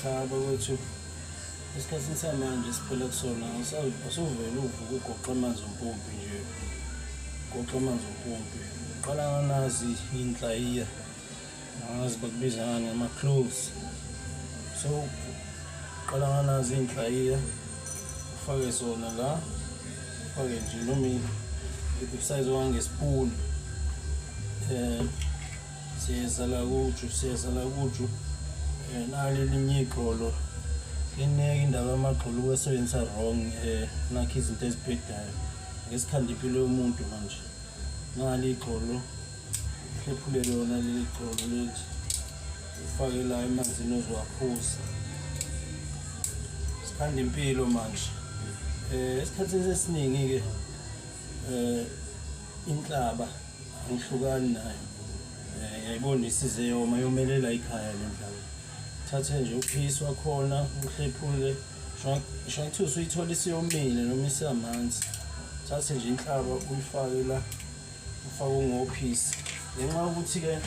cha bakwethu esikhathini samanje siphela kusona usuvele uvuka ugoqa amanzi ompompi nje ugoqa amanzi ompompi uqala nganazi inhlayiya angazi bakubiza ngani ngama-cloves so uqala nganazi inhlayiya ufake zona la ufake nje noma ibsayizi wangesipuni um eh, siyeza la kuju siyeza la kuju eh, nali linye igxolo ineke indaba yamagxolo ukwesebenzisa wrong eh, nakho izinto ezibhedayo ngesikhanda impilo yomuntu manje nali igxolo hlephule lona leli gxolo leli ufake la emanzini oziwaphuza sikhanda impilo manje um esikhathini esiningi-ke um inhlaba Ngihlukani nayo. Eh, yayibona isize yoma yomelela ikhaya le ndawo. Thathe nje uphisi wakhona uhlephule. Shwa kuthiwa usuyithola isiyomile noma isamanzi. Thathe nje inhlaba uyifake la ufake ungophisi. Ngenxa yokuthi ke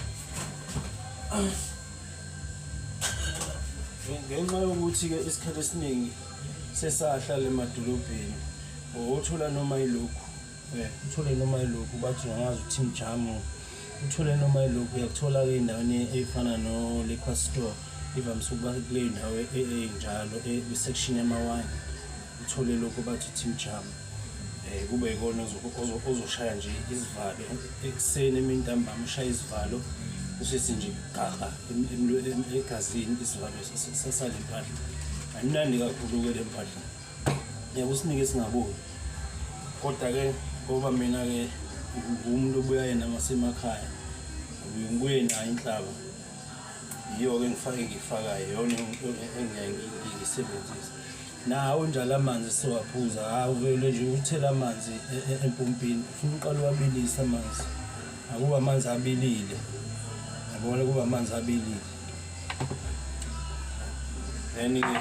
ngenxa yokuthi ke isikhathi esiningi sesahlala emadolobheni ngokuthola noma yilokhu Eh, uthole noma ilokhu bathi ungangazi ukuthi mjamu uthole noma ilokhu uyakuthola-ke endaweni eyifana no-liquor store ivamise ukuba kuleyo ndawo e- e- enjalo e- kwi-section yamawine uthole lokhu bathi uthi mjamu um kube yikona ozo- ozo- ozoshaya nje izivalo ekuseni emini ntambama ushaya izivalo usithi nje gaga em- emlwe- em- egazini isivalo sasale mpahla ayimnandi kakhulu-ke le mpahla ngeke usinike singaboni kodwa-ke ngoba mina-ke umuntu obuya yena ngasemakhaya ngibuye nayo inhlaba yiyo-ke ngifake ngiyifakayo yona engiyayisebenzisa nawo njalo amanzi siwaphuza hawu vele nje uthela amanzi e, e, empompini ufuna uqala uwabilise amanzi akuba amanzi abilile yabona kuba amanzi abilile then-ke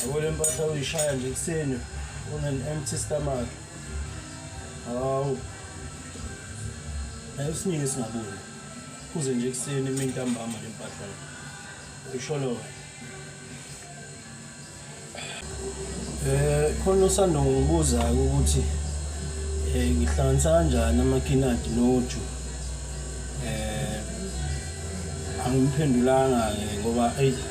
Yabo le mpahla uyishaya nje ekuseni on an empty stomach. Hawu. Nayo siningi singaboni. Kuze nje ekuseni imini ntambama le mpahla. Uyisholo. Eh khona usando ngibuza ukuthi eh ngihlanganisa kanjani amakinati noju. Eh angimphendulanga ngoba ayi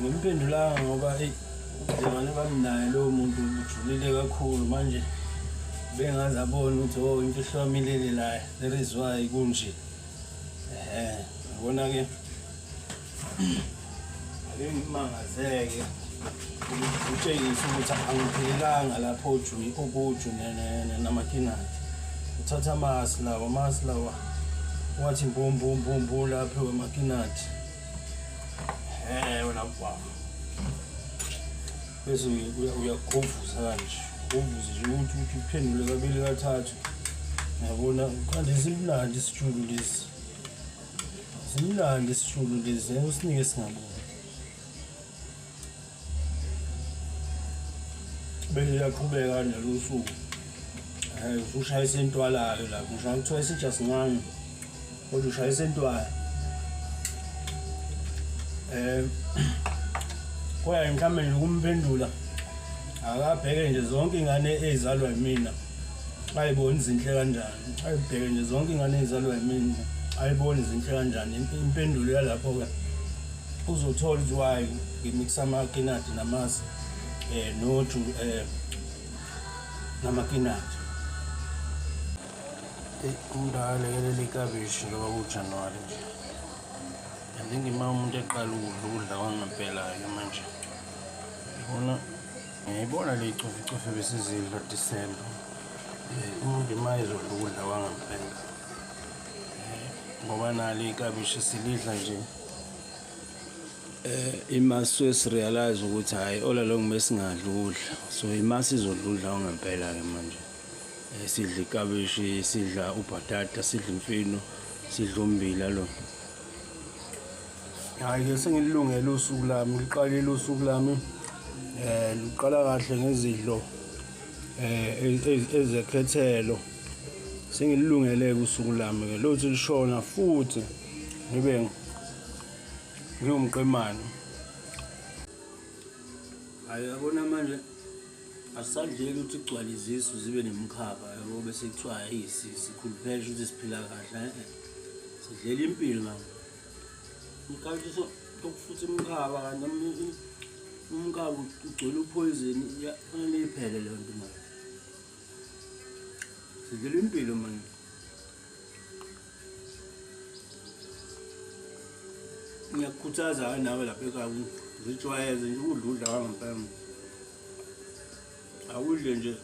ngimpendulanga ngoba eyi ubudlelwane bamnaye lowo muntu bujulile kakhulu manje bengaze abone ukuthi o oh, imfihlo yami ilele laye there is why kunje um ngibona-ke ake ngimangazeke utshengise ukuthi angiphelelanga lapho okuju namakinati uthatha amasi lawa amasi lawa wathi mbumbumbumbula aphiwe makinati Eh wena baba. Bese uyagovuza kanje. Govuza nje ukuthi uthi uphendule kabili kathathu. Yabona kanti simnandi isitshulu lesi. Simnandi isitshulu lesi. Usinike singabona. bese uyaqhubeka nelusuku eh usushayisa intwalayo la kusho kuthiwa isitsha sincane kodwa ushayisa intwala eh koya mhlawumbe nje kumphendula akabheke nje zonke ingane ezalwa yimina ayiboni izinhle kanjani ayibheke nje zonke ingane ezalwa yimini ayiboni zinhle kanjani impendulo yalapho-ke uzothola ukuthi why ngimikisa amakinati namasi um eh, noju um eh, namakinati umuntu akalekelela ikabishi njengoba kujanuwari nje andingima umuntu eqala ukudla ukudla kwangempela-ke manje yibona Ngiyibona le coficofi besizidla December. Eh, umuntu uma ezodla ukudla kwangempela. Eh, ngoba nalo ikabishi silidla nje. Eh imasu esirealize ukuthi hayi ola lo ngimesingadla ukudla. So imasu izodla udla ongempela ke manje. Eh, sidla ikabishi, sidla ubhatata, sidla imfino, sidla umbila lo. hhayi ke sengililungele usuku lami ngiqalile usuku lami eh ngiqala kahle ngezidlo eh ezekhethelo sengililungele usuku lami ke lothi lishona futhi ngibe ngiwumqemane hayi yabona manje asadleki ukuthi kugcwale izisu zibe nemkhaba yabo bese kuthiwa yisisi khuluphesha ukuthi siphila kahle eh, eh. sidlela impilo manje ngikawushisa ukufuthi umkhaba kanti umkhaba ugcwele uphoyizini fanele iphele leyo nto manje sidlela impilo manje ngiyakukhuthaza ke nawe lapha ekhaya ngijwayeze nje ukudla udla kwangempela awudle nje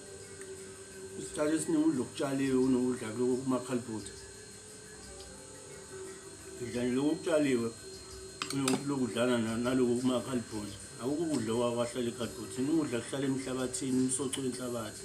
isikhathi esiningi udla okutshaliwe kunokudla kumakhalibhutha udlani lokhu okutshaliwe lokudlana naloku kumakhalibhoni akukho ukudla okwakwahlela ikhalibhoni thina ukudla kuhlala emhlabathini umsoco wenhlabathi